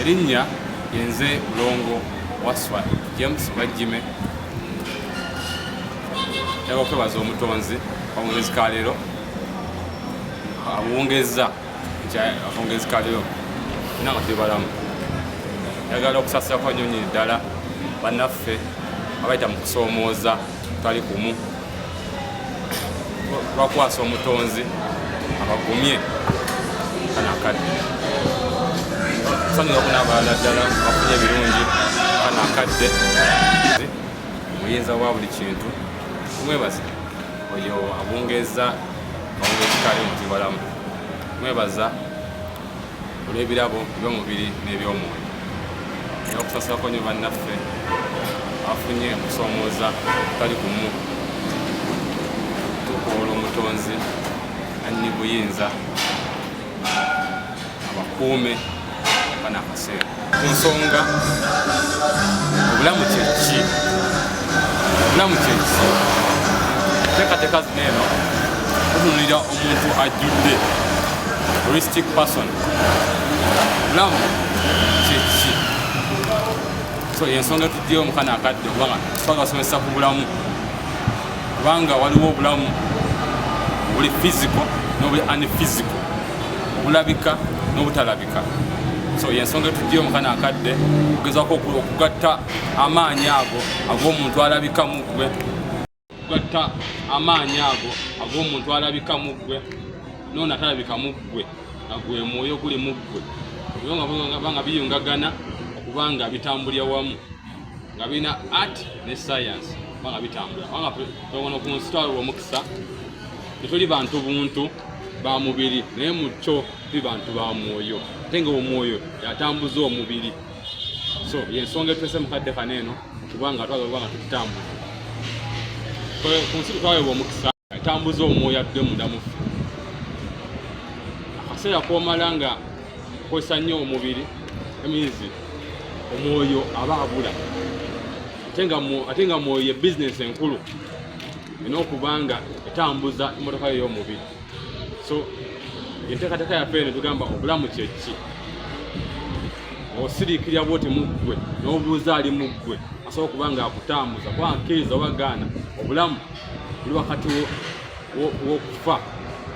erinnya yenze mulongo waswa james bajjime yaba okwebaza omutonzi akawungezi ka leero abuwungezza akawungezi ka leero ina nga tebalamu yagala okusasira kwa nyonyi ddala bannaffe abayita mu kusoomooza tali kumu bakwasa omutonzi abagumye kana akadde sanyuga kuna abalala ddala bafunye ebirungi kana akadde muyinza wa buli kintu mwebaza oyo abungeza abungezikali mutibalamu mwebaza olw'ebirabo eby'omubiri n'eby'omwoyo era okusasulako nyo bannaffe afunye okusomooza kali kumu tukoola omutonzi anyi buyinza abakuume banakaseera ku nsonga obulamu kyeki obulamu kyeki teekateeka zino eno tutunulira omuntu ajjudde holistic person obulamu kyeki so yensonga tujjeyo omukana akadde kubanga tusobola basomesa ku bulamu kubanga waliwo obulamu obuli fiziko nobuli anifiziko obulabika n'obutalabika so yensonga etujiyo mukana akadde okugezako okugatta amaanyi ago ag'omuntu alabika mu ggwe okugatta amaanyi ago ag'omuntu alabika mu ggwe noona talabika mu ggwe nga gwe mwoyo guli mu ggwe ebyo nga biyungagana okuba nga bitambulira wamu nga birina art ne science oba nga bitambula kubanga tewona ku nsi twalolwa omukisa tetuli bantu buntu ba mubiri naye mu kyo tuli bantu ba mwoyo ate nga omwoyo yatambuza omubiri so yensonga etulese mukadde kano eno kubanga twagala kubanga tutambuza ku nsi twawebwa omukisa atambuza omwoyo atudde munda mufe akaseera komala nga kozesa nnyo omubiri emizi omwoyo aba abula ate nga mwoyo ye bizinesi enkulu ina okubanga etambuza emotoka yo ey'omubiri so enteekateeka yaffe eno tugamba obulamu kyeki osiriikirira bwoti muggwe n'obuuza ali muggwe asobola okuba nga akutambuza kuba nkkiriza oba gaana obulamu buli wakati w'okufa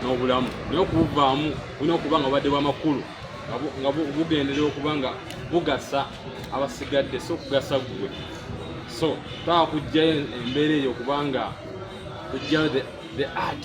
n'obulamu naye okubuvaamu bulina okuba nga obadde bwamakulu nga bugenderera okuba nga bugasa abasigadde si okugasa ggwe so twaba kujjayo embeera eyo okubanga kujjayo the art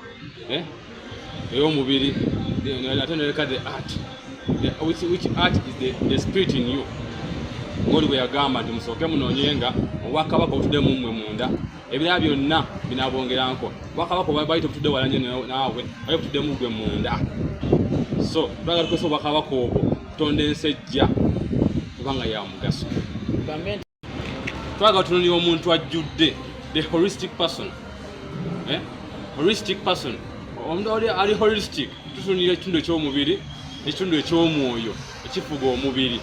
eh ey'omubiri ate noleka the art which, which art is the, the spirit in you ngoli bwe yagamba nti musooke munoonye nga obwakabaka obutudde mu mmwe munda ebirala byonna binabongeranko obwakabaka bwali tebutudde wala nyo naawe bali butudde mu gwe munda so tulaga tukozesa obwakabaka obwo kutonda ensi ejja kubanga ya mugaso twaga tunulira omuntu ajjudde the holistic person eh? holistic person omuntu ali holistic tutunulira ekitundu eky'omubiri ekitundu eky'omwoyo ekifuga omubiri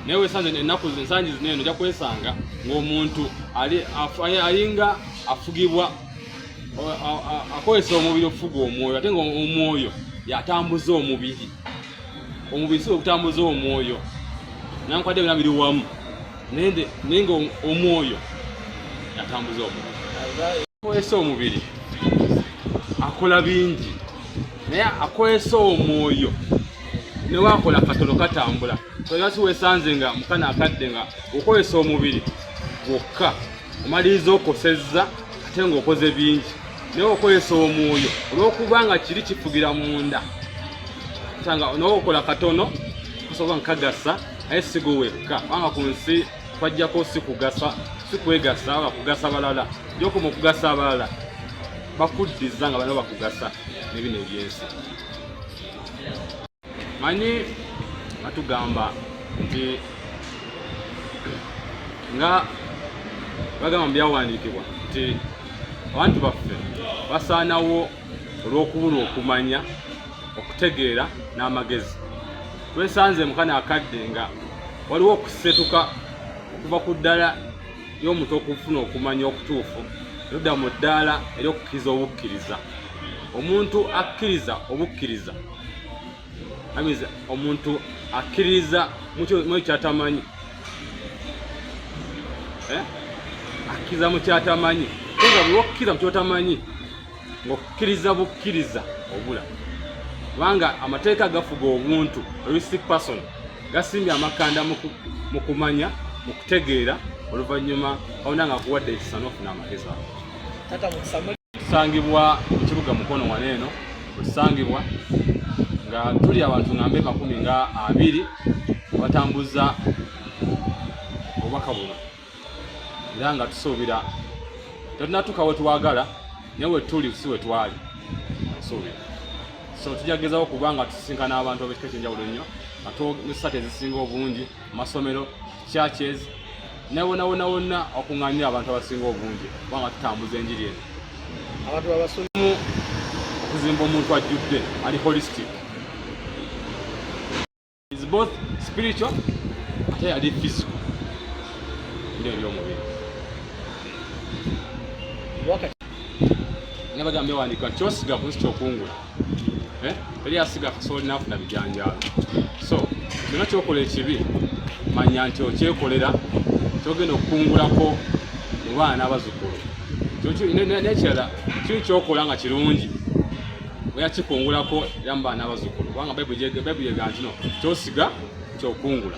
naye wesanze ennaku ensangi zino eno ojja kwesanga ng'omuntu alinga afugibwa akozesa omubiri okufuga omwoyo ate ngaomwoyo yatambuza omubiri omubiri kisobola okutambuza omwoyo nankwade byona biri wamu nende naye nga omwoyo atambuza omwoyo akozesa omubiri akola bingi naye akozesa omwoyo newakola katono katambula toyasi wesanze nga mukana akadde nga okozesa omubiri gwokka omaliriza okosezza ate nga okoze bingi naye okozesa omwoyo olwokuba nga kiri kifugira munda sanga nawe okola katono osobola nkagasa naye sigo wekka kubanga ku nsi kwajjako sikugasa sikwegasa oba kugasa balala jokuma okugasa abalala bakuddiza nga balina bakugasa nebino ebyensi manyi batugamba nti nga bagamba mu byawandiikibwa nti abantu baffe basaanawo olw'okubulwa okumanya okutegeera n'amagezi twesanze mukana akadde nga waliwo okusetuka okuva ku ddala y'omuntu okufuna okumanya okutuufu erudda mu ddaala ery'okukkiriza obukkiriza omuntu akkiriza obukkiriza amiza omuntu akkiririza mukyo kyatamanyi eh? akkiriza mu kyatamanyi nga bwewakkiriza mu kyotamanyi ngaokukkiriza bukkiriza obula kubanga amateeka agafuga obuntu ristic person gasimbye amakanda mu kumanya mu kutegeera oluvannyuma awona nga akuwadde ekisa nofuna amagezi ago Tusangibwa mu kibuga Mukono wano eno wesangibwa nga tuli abantu ngambe makumi nga abiri abatambuza obubaka buno era nga tusuubira tetunatuuka wetwagala naye wetuli si wetwali nsuubira so tujja kugezawo kuba nga tusisinkana abantu abekika ekyenjawulo nnyo nga twogesa ezisinga obungi masomero churches nawonawona wonna okung'anya abantu abasinga obungi kubanga tutambuza enjiri eno abantu abasolimu okuzimba omuntu ajjudde ali holistic is both spiritual ate yali physical ndio ebyomubiri nabagambye wandika kyosiga kunsi kyokungula eh? eri asiga kasooli nafuna bijanjaalo so kyona kyokola ekibi manya nti okyekolera kyogenda okukungulako mu baana abazukulu nekirala kiri kyokola nga kirungi oya kikungulako era mu baana abazukulu kubanga bayibuli yega ntino kyosiga kyokungula